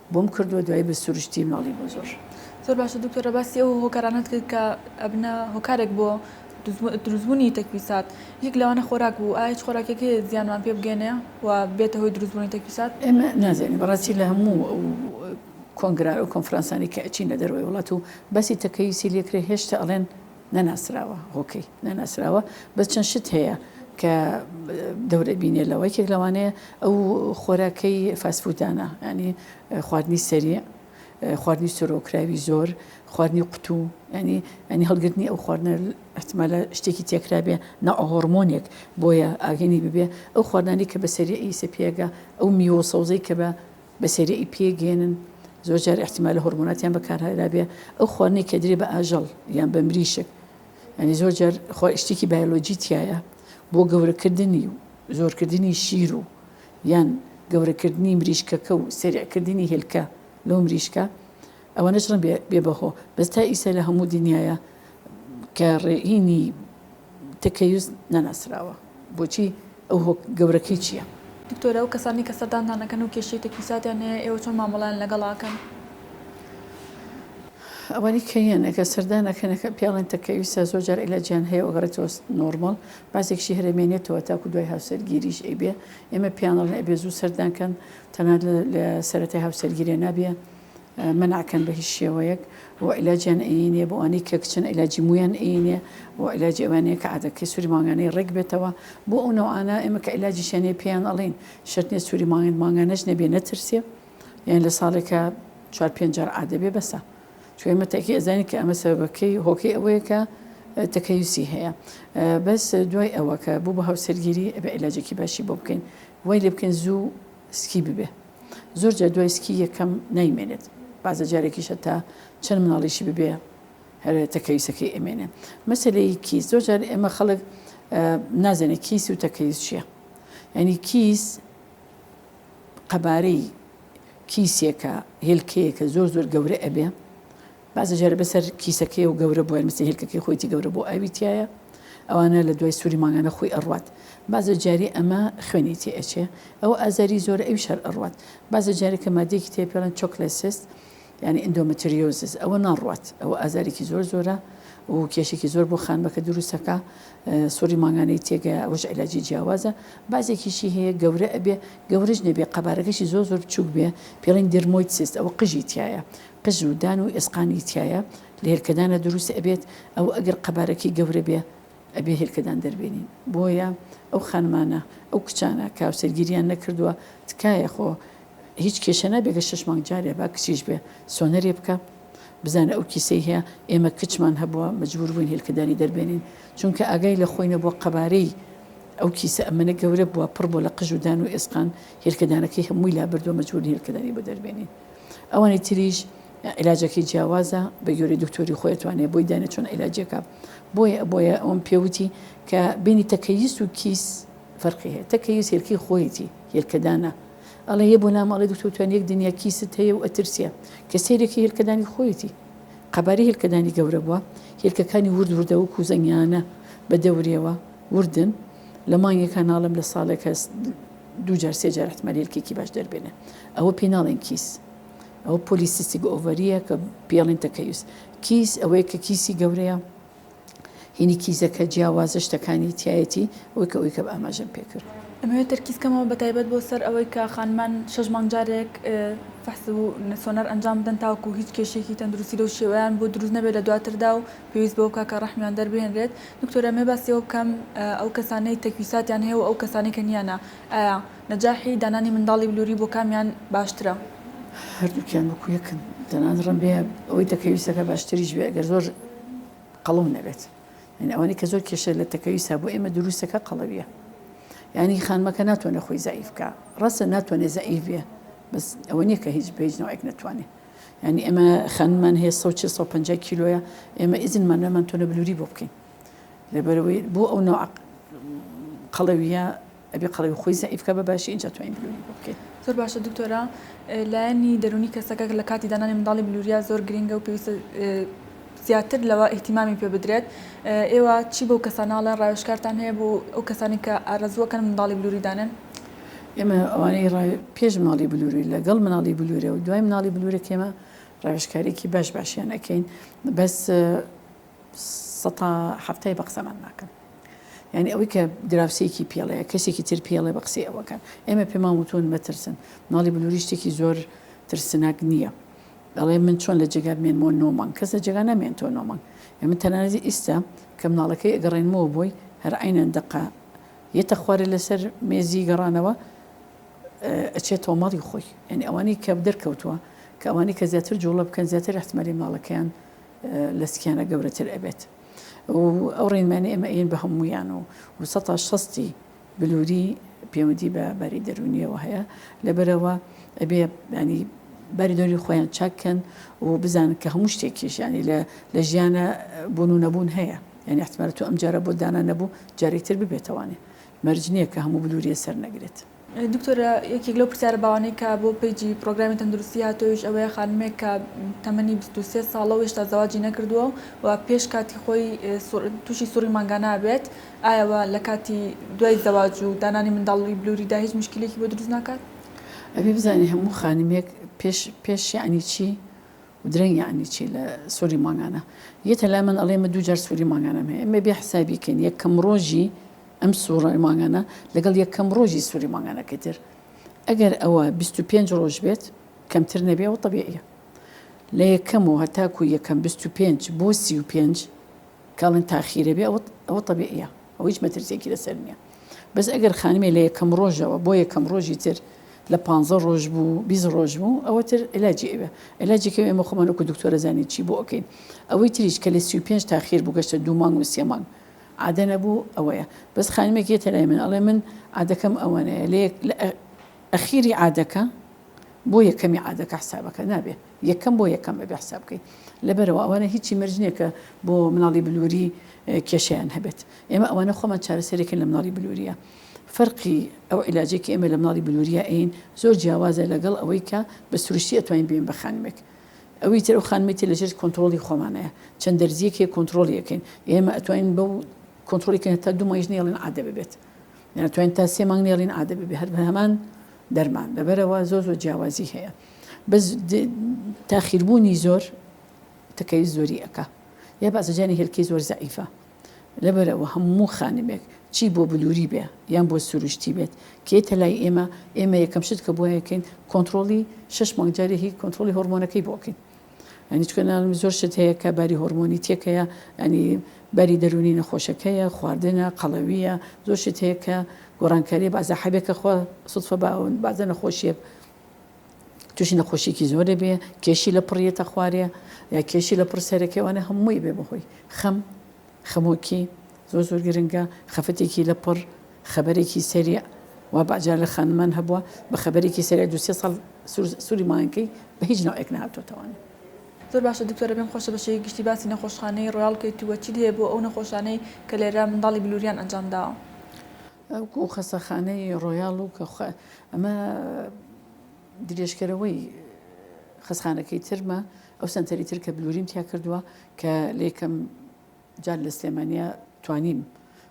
بۆم کردوە دوای بە سروشتی ماڵی بۆ زۆر. زۆر باشە دکتۆرە باسی ئەو هۆکارانەت کرد کە ئەبنە هۆکارێک بۆ دروستبوونی تەکپیسات یەک لەوانە خۆراک بوو ئایا هیچ خۆراکێک هەیە زیانمان پێ بگەێنێ و بێتە هۆی دروستبوونی تەکپیسات ئێمە نازانین بەڕاستی لە هەموو کۆنگرا و کۆنفرانسانی کە ئەچینە دەرەوەی وڵات و باسی تەکەیوسی لێکرێ هێشتا ئەڵێن نەناسراوە هۆکەی نەناسراوە بەس چەند شت هەیە کە دەورە بینێ لەوە یەکێک لەوانەیە ئەو خۆراکەی فاسفودانە ینی خواردنی سەری خواردنی سۆرۆکراوی زۆر خواردنی قوتو ینی ئەنی هەڵگرتنی ئەو خواردنە احتمالە شتێکی تێکرابێ ناهۆرمۆنێک بۆیە ئاگەنی ببێ ئەو خواردانی کە بەسەری ئیسە پێگە ئەو میوە سەوزەی کە بە بەسەری ی پێگەیەنن زۆر جار ئیحتیمالە هۆڕمۆناتیان بەکارهێنابێ ئەو خواردنەی کە ئەدرێ بە ئاژەڵ یان بە مریشک یانی زۆر جار خۆ شتێکی بایۆلۆجی تیایە بۆ گەورەکردنی و زۆرکردنی شیر و یان گەورەکردنی مریشکەکە و سەریعکردنی هێلکە لەو مریشکە ئەوەنە چڕن بێ بەهۆ. بەس تا ئیسە لە هەموو دنیایا کە ڕێینی تەکەیوز نەناسراوە بۆچی ئەو هۆ گەورەکەی چیە؟ دکتۆر ئەو کەسانەی کە سەردانتان ئەکەن و کێشەی تەکیوساتیان هەیە ئێوە چۆن مامەڵەیان لەگەڵ ئەکەن؟ ئەوانی کە یەن ئەگە سەردان ئەکەن ئەکە پیاڵێن تەکەویسە زۆر جار ئیلاجیان هەیە و ئەگەڕێتەوە نۆرماڵ باسێکشی هەرێ مێنێتەوە تاکو دوای هاوسەرگیریش ئەیبێ ئێمە پیانەڵێن ئەبێ زوو سەردان کەن تەنها لە سەرەتای هاوسەرگیرێ نابێ مەنعکەن بە هیچ شێوەیەک و عیلاجیان ئەیی نیە بۆ ئەوانەی کە کچن عیلاجی مویان ئەیی نیە و عیلاجی ئەوان نیە کە عادەکەی سوری مانگانەی ڕێک بێتەوە بۆ ئەو نەوعانە ئێمە کە عیلاجیشیان نیە پێیان ئەڵێین شەرت نیە سوری مانگانە مانگانەش نەبێ نەترسێ یان لە ساڵێکە چوار پێنج جار عادە بێ بەسە چون ئێمە تەکی ئەزانین کە ئەمە سەبەکەی هۆکەی ئەوەیە کە تەکەیوسی هەیە بەس دوای ئەوە کە بوو بە هاوسەرگیری ئەبێ عیلاجێکی باشی بۆ بکەین وای لێ بکەین زوو سکی ببێ زۆر جار دوای سکی یەکەم نایمێنێت بازە جارێکیش هەتا چەند مناڵیشی ببێ هەرێتە کەویسەکەی ئەمێنێ مەسلەی کیس زۆر جار ئێمە خەڵک نازانێت کیس و تەکەیز چییە ینی کیس قەبارەی کیسێکە هێلکەیەکە زۆر زۆر گەورە ئەبێ بەعزێ جار بە سەر کیسەکەی و گەورە بۆیان مەسەی هێلکەکەی خۆیتی گەورە بۆ ئاوی تیایە ئەوانە لە دوای سوری مانگانە خۆی ئەڕوات بەعزێ جاری ئەمە خوێنی تێ ئەچێ ئەوە ئازاری زۆرە ئەویش هەر ئەڕوات بەعزێ جاری کە مادەیەکی تێ پێڵێن چۆکلێ سست یانی ئیندۆمەتریۆزس ئەوە ناڕوات ئەوە ئازارێکی زۆر زۆرە و کێشێکی زۆر بۆ خانمەکە دروستەکە سوری مانگانەی تێگە ئەوش علاجی جیاوازە بازێکیشی هەیە گەورە ئەبێ گەورەش نەبێ قەبارەکەشی زۆر زۆر بچوک بێ پێڵین درمۆیت سست ئەوە قژی تایە قژ و دان و ئێسقانی تیایە لە هێلکەدانا دروست ئەبێت ئەوە ئەگەر قەبارەکەی گەورە بێ ئەبێ هێلکەدان دەربێنین بۆیە ئەو خانمانە ئەو کچانە کە هاوسەرگیریان نەکردووە تکایە خۆ هیچ کێشە نابێ گە شش مانگ جارێ با کچیش بێ سۆنەرێ بکە بزانە ئەو کیسەی هەیە ئێمە کچمان هەبووە مجبور بووین هێلکەدانی دەربێنین چونکە ئاگای لە خۆی نەبووە قەبارەی ئەو کیسە ئەمەە گەورە بووە پڕ بۆ لە قژ و دان و ئێسقان هێلکەدانەکەی هەمووی لابردووە مجبور هێلکەدانی بۆ دەربێنین ئەوانی تریش علاجەکەی جیاوازە بە گوێرەی دکتۆری خۆی توانێت بۆی دانێت چۆن علاجەکە بۆیە بۆیە ئەوم پێوتی کە بینی تەکەیس و کیس فەرقی هەیە تەکەیس هێلکی خۆیەتی هێلکەدانە ئەڵێ یە بۆ نامەڵی دکتۆتوان یەک دنیا کیست هەیە و ئەترسە کە سێرێکی هێلکەدانی خۆیەتی قەباری هێلکەدانی گەورە بووە هێلکەکانی ورد وردە و کوزەنگیانە بە دەورێەوە وردن لە مانگی کاناڵم لە ساڵێک هەست دوو جار سێ جار احتمالی الکێکی باش دەربێنێ ئەوە پێی ناڵێن کیس ئەوە پۆلیسیستیک ئۆڤەریە کە پێڵین تەکەیوس کیس ئەوەیە کە کیسی گەورەیە هینی کیزەکە جیاوازە شتەکانی تایەتی ئەوەی کە ئەوەی کە ئاماژەم پێکرد ئەمەوێت تەرکیز کەمەوە بە تایبەت بۆ سەر ئەوەی کە خانمان شەش مانگ جارێک فەحس و سۆنەر ئەنجام بدەن تاوەکو هیچ کێشەیەکی تەندروستی لەو شێوەیان بۆ دروست نەبێت لە دواتردا و پێویست بەوە بکات کە ڕەحمیان دەربهێنرێت. دکتۆر ئەمەوێ باسی ئەوە بکەم ئەو کەسانەی تەکویساتیان هەیە و ئەو کەسانەی کە نیانە ئایا نەجاحی دانانی منداڵی بلوری بۆ کامیان باشترە؟ هەردووکیان وەکو یەکن تەنانەت ڕەنبێ ئەوەی تەکەویس دەکات باشتریش بێ ئەگەر زۆر قەڵەو نەبێت یانی ئەوانەی کە زۆر کێشە لە تەکەویسا بۆ ئێمە دروست دەکات قەڵەویە یانی خانمەکە ناتوانێت خۆی زەعیف بکات ڕاستە ناتوانێت زەعیف بێ بەس ئەوە نییە کە هیچ بە هیچ نەوعێک نەتوانێت یانی ئێمە خانمان هەیە سەد و چل سەد و پەنجا کیلۆیە ئێمە ئیزنمان نامان تۆنە بلووری بۆ بکەین لەبەرەوەی بۆ ئەو نەوە قەڵەویە ئەبێ قەڵەوی خۆی زعیفکە بە باشی ئینجا توانین بلووری بۆ بکەین زۆر باشە دکتۆرا لایەنی دەرونی کەسەکە لە کاتی دانانی منداڵی بلوریا زۆر گرنگە و پێویستە زیاتر لەوە ئیحتیمامی پێ بدرێت ئێوە چی بۆ کەسانناڵە ڕاوشکارتان هەیە بۆ ئەو کەسانی کە ئارەزوەکەن منداڵی بلووریدانن ئێمە ئەوانەی ڕای پێش مناڵی بلووری لەگەڵ مناڵی بلوورە و دوای مناڵی بلوورەکەێمە ڕاوێشکارێکی باش باشیان ئەەکەین بەس سەتا هەفتای بە قسەمان ناکەن یعنی ئەوەی کە دراوسێکی پێڵەیە کەسێکی تر پێڵێ بە قسەی ئەوەکان ئێمە پێمان وتون مەترسن مناڵی بلووری شتێکی زۆر ترسناک نییە دەڵێ من چۆن لە جێگا بمێنمەوە نۆمان کەس لە جێگا نامێن تۆ نۆمان ئێمە تەنانەتی ئیستا کە مناڵەکەی ئەگەڕێنمەوە بۆی هەر عینەن دقە یەتە خوارێ لەسەر مێزی گەڕانەوە ئەچێ تۆمەڵی خۆی یعنی ئەوانەی کە دەرکەوتووە کە ئەوانەی کە زیاتر جوڵە بکەن زیاتر احتمالی ماڵەکەیان لە سکیانە گەورەتر ئەبێت ئەو ڕێنمانە ئێمە ئەین بە هەمویان و و سە شستی بلووری پەیوەندی بە باری دەرونیەوە هەیە لەبەرەوە ئەبێ ینی باریدۆری خۆیان چاککەن و بزانن کە هەموو شتێکیشیانی لە لە ژیانە بوون و نەبوون هەیە یانی احتمالە تۆ ئەم جارە بۆت دانا نەبوو جارێ تر ببێتە وانێ مەرج نییە کە هەموو بلوریە سەر نەگرێت. دکتۆر یەکێک لەو پرسیارە باوانەی کە بۆ پەیجی پرۆگرامی تەندروستی هاتۆیش ئەوەیە خانمێک کە تەمەنی بیست و سێ ساڵە و هێشتا زەواجی نەکردووە و پێش کاتی خۆی تووشی سوڕی مانگانە ئەبێت ئایەوە لە کاتی دوای زەواج و دانانی منداڵی بلوریدا هیچ مشکلێکی بۆ دروست ناکات؟ ئەبێ بزانین هەموو خانمێک پێش پێش یعنی چی درەنگ یەعنی چی لە سوری مانگانە یەتە لای من ئەڵێ من دوو جار سوری مانگانەم هەیە ئێمە بێ حسابی کەین یەکەم ڕۆژی ئەم سوڕای مانگانە لەگەڵ یەکەم ڕۆژی سوری مانگانەکەی تر ئەگەر ئەوە بیست و پێنج ڕۆژ بێت کەمتر نەبێ و طبیعیە لە یەکەم و هەتاکو یەکەم بیست و پێنج بۆ سی و پێنج کاڵن تاخیرە بێ ئەوە ئەوە طبیعیە ئەو هیچ مەترسێکی لەسەر نییە بەس ئەگەر خانمێ لە یەکەم ڕۆژەوە بۆ یەکەم ڕۆژی تر لە پانزە ڕۆژ بوو بیست ڕۆژ بوو ئەوە تر علاجی ئەوێ علاجی کەوێ ئێمە خۆمان وەکو دکتۆرە زانین چی بۆ ئەکەین ئەوەی تریش کە لە سی و پێنج تاخیر بوو گەشتە دوو مانگ و سێ مانگ عادە نەبوو ئەوەیە بەس خانمێک یەتە لای من ئەڵێ من عادەکەم ئەوەنەیە لە یەک لە ئەخیری عادەکە بۆ یەکەمی عادەکە حسابەکە نابێ یەکەم بۆ یەکەم ئەبێ حساب بکەی لەبەرەوە ئەوانە هیچی مەرج نییە کە بۆ مناڵی بلوری کێشەیان هەبێت ئێمە ئەوانە خۆمان چارەسەرێکن لە مناڵی بلوریە فەرقی ئەو عیلاجێکی ئێمە لە مناڵی بلوریە ئەین زۆر جیاوازە لەگەڵ ئەوەی کە بە سروشتی ئەتوانین بێن بە خانمێک ئەوی تر و خانمێتی لەژێر کۆنتترۆلی خۆمانەیە چەند دەرزیەکێ کۆنتترۆلیەکەین ئێمە ئەتوانین بەو کۆنتترۆلیکەن تا دوو مایش نێڵین عادە ببێت یانتوانین تا سێ مانگ نێڵین عادە ببێ هەر بە هەمان دەرمان لەبەرەوە زۆ زۆ جیاوازی هەیە بەس تاخیر بوونی زۆر تکەی زۆری ئەکا یا بازرجانی هێلکەی زۆر زەعیفە لەبەرەوە هەموو خانمێک چی بۆ بلووری بێ یان بۆ سروشتی بێت کێتە لای ئێمە ئێمە یەکەم شت کە بۆیەکەین کۆنتترۆلی شش مانگجاری هی کۆنتترۆلی هۆرمۆنەکەی بۆکەین ئەنیچکەناڵم زۆر شت هەیە کە باری هۆرمۆنی تێکەیە ئەنی باری دەرونی نەخۆشەکەیە خواردنە قەڵەویە زۆر شت هەیە کە گۆڕانکاری بازە حەبێکە خۆ سوفە باون بازە نەخۆشیە تووشی نەخۆشیکی زۆرێ بێ کێشی لە پڕیێتە خوارێ یا کێشی لە پڕ سەرەکەی وانە هەمووی بێ بەهۆی خەم خەمۆکی زۆر زۆر گرنگە خەفەتێکی لە پڕ خەبەرێکی سەری و باجار لە خانمان هەبووە بە خەبەرێکی سەری دوسێ ساڵ سووری ماینکەی بە هیچ ناوێک نهاتۆتەوانە زۆر باشە دکتۆرە بێم خۆشە بەشەی گشتی باسی نەخۆشخانەی ڕاڵکەیتووە چی هەیە بۆ ئەو نەخۆشانەی کە لێرە منداڵی بلووریان ئەنجام داوە وەکو خەستەخانەی ڕۆیاڵ و کە ئەمە درێژکەرەوەی خەسخانەکەی ترمە ئەو سنتەری تر کە بلوریم تیا کردووە کە لێکم جار لە سلێمانیا توانیم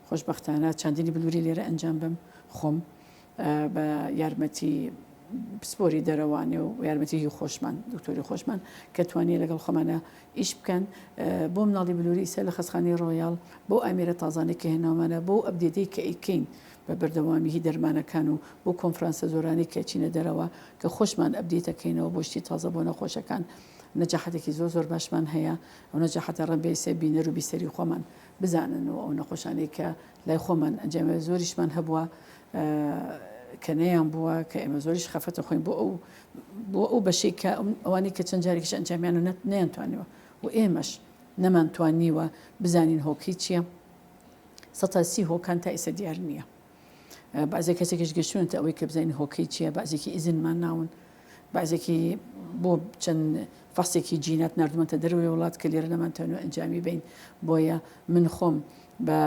خۆشببختانە چاندنی بلووری لێرە ئەنجام بم خۆم بە یارمەتی پسپۆری دەرەوانێ و یارمەتیی خۆشمان دکتۆری خۆشمان کە توانیە لەگەڵ خۆمانە ئیش بکەن بۆ مناڵی بلوری ئیستا لە خەسخانەی ڕۆیاڵ بەو ئامێرە تازانەی کە هێناومانە بۆ ئەو ئەپدێتەی کە ئەیکەین بە بەردەوامی هی دەرمانەکان و بۆ کۆنفرانسە زۆرانەی کە ئەچینە دەرەوە کە خۆشمان ئەپدێت ئەکەینەوە بۆ شتی تازە بۆ نەخۆشەکان نەجاحەتێکی زۆر زۆر باشمان هەیە ئەو نەجاحەتە ڕەنبێ ئیستا بینەر و بیسەری خۆمان بزانن و ئەو نەخۆشانەی کە لای خۆمان ئەنجامێ زۆریشمان هەبووە کە نەیان بووە کە ئێمە زۆریش خەفەتە خۆین بۆ ئەو بۆ ئەو بەشەی کە ئەوانەی کە چەند جارێکیش ئەنجامیان و نەت نەیانتوانیوە و ئێمەش نەمان توانیوە بزانین هۆکەی چییە سەتا سی هۆکان تا ئیسە دیار نییە بازێ کەسێکیش گەشتونە تا ئەوەی کە بزانین هۆکەی چییە بازێکی ئیزنمان ناون بازێکی بۆ چەند فەسێکی جینات نردمەتە دەروی وڵات کە لێرە نەمانتەوە ئەنجامی بین بۆیە من خۆم بە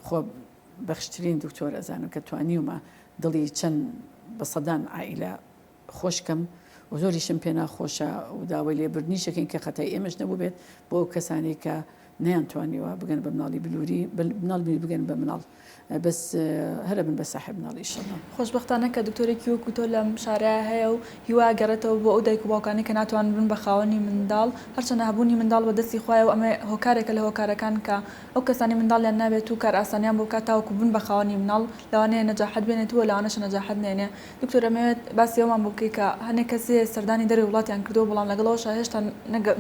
خۆ بەخشترین دکتۆر ئەزانم کە توانیومە دڵی چەند بە سەدان عائیلە خۆش کەم و زۆریشم پێ ناخۆشە و داوای لێبوردنیشەکەین کە خەتای ئێمەش نەبووبێت بۆ ئەو کەسانەی کە نەیان توانیوە بگەن بە مناڵی بلووری مناڵ بیر بگەن بە مناڵ بەس هەرە بن بە ساحب مناڵی شەڵە خۆشببختانە کە دکتۆرێکی وەکو تۆ لەم شارە هەیە و هیوا گەڕێتەوە بۆ ئەو دایک و باوکانی کە ناتوان بن بە خاوەنی منداڵ هەرچەنە هەبوونی منداڵ بە دەستی خوایە و ئەمە هۆکارێکە لە هۆکارەکان کە ئەو کەسانەی منداڵیان نابێت و کارئاسانیان بۆ بکات تاوەکو بن بە خاوەنی مناڵ لەوانەیە نەجاحەت بێنێت و لەوانەشە نەجاحەت نەێنێ دکتۆر ئەمەوێت باسی ئەومان بۆ بکەی کە هەنێ کەس هەیە سەردانی دەرەوەی وڵاتیان کردووە بەڵام لەگەڵ ئەوەشا هێشتا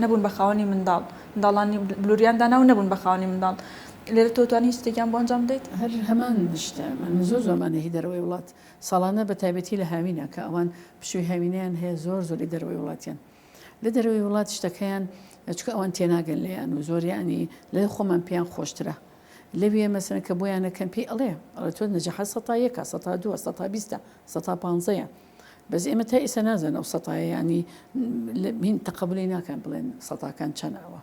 نەبوون بە خاوەنی منداڵ منداڵانی بلوریان دانا و نەبوون بە خاوەنی منداڵ لێرە تۆ توانی هیچ شتێکیان بۆ ئەنجام بدەیت؟ هەر هەمان شتە من زۆر زۆر مانێهی دەرەوەی وڵات ساڵانە بە تایبەتی لە هاوینە کە ئەوان پشووی هاوینەیان هەیە زۆر زۆری دەرەوەی وڵاتیان. لە دەرەوەی وڵات شتەکەیان چکە ئەوان تێناگەن لێیان و زۆریانی لە خۆمان پێیان خۆشترە لەوێ مەسەن کە بۆیانە کەم پێی ئەڵێ ئەڵە تۆ نەجەحە سەتا یەکە سەتا دووە سەتا بیستە سەتا پانزەیە بەس ئێمە تا ئێستا نازانە و سەتایانی من تەقبلی ناکەن بڵێن سەتاکان چەنەوە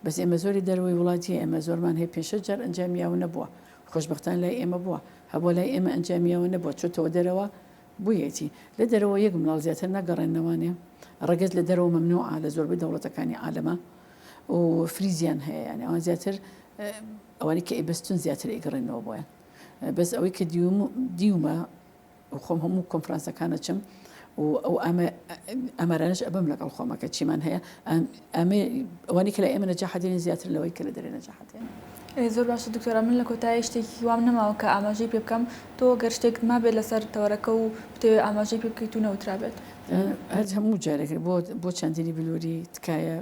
بەس ئێمە زۆری دەروی وڵاتی ئێمە زۆرمان هەیە پێشە جار ئەنجامیاوە نەبووە خۆشببختان لای ئێمە بووە هەبوو لای ئێمە ئەنجامیاوە نەبووە چۆتەوە دەرەوە بویەتی لە دەرەوە یەک منداڵ زیاتر نەگەڕێننەوانێ ڕەگەز لە دەرەوە مەمنوعە لە زۆربەی دەوڵەتەکانی عالەما و فریزیان هەیە یانی ئەوان زیاتر ئەوانی کە ئەیبەستن زیاتر ئەیگەڕێنەوە بۆیان بەس ئەوەی کە دیومە خۆم هەموو کۆنفرانسەکانە چم و ئەو ئەمە ئەمەرانش ئەبم لەگەڵ خۆمەکە چیمان هەیە ئەمەی ئەوانی کە لە ئێمە نەجاحە دێنێ زیاتر لەوەی کە لە دەرێ نەجاحە دێنێ. زۆر باشە دکتۆرە من لە کۆتایی شتێکی وام نەماوە کە ئاماژەی پێ بکەم تۆ گەر شتێکت مابێت لەسەر تەوەرەکە و بتەوێت ئاماژەی پێ بکەیت و نەوترابێت هەر هەموو جارێک بۆ بۆ چاندنی بلووری تکایە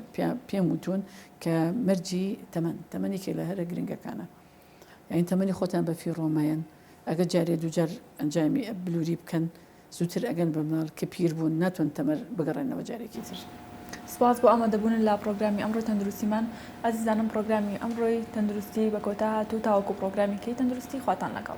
پێم وتون کە مەرجی تەمەن تەمەنێکی لە هەرە گرنگەکانە یانی تەمەنی خۆتان بە فیڕۆ مەیەن ئەگەر جارێ دووجار ئەنجامی بلووری بکەن زووتر ئەگەن بە مناڵ کە پیر بوون ناتوان تەمەر بگەڕێنەوە جارێکی تر. سپاس بۆ ئامادەبوون لە پڕۆگرامی ئەمڕۆی تەندروستیمان ئازیزانم پڕۆگرامی ئەمڕۆی تەندروستی بە کۆتا هات و تاوەکو پڕۆگرامی کەی تەندروستی خواتان لەگەڵ.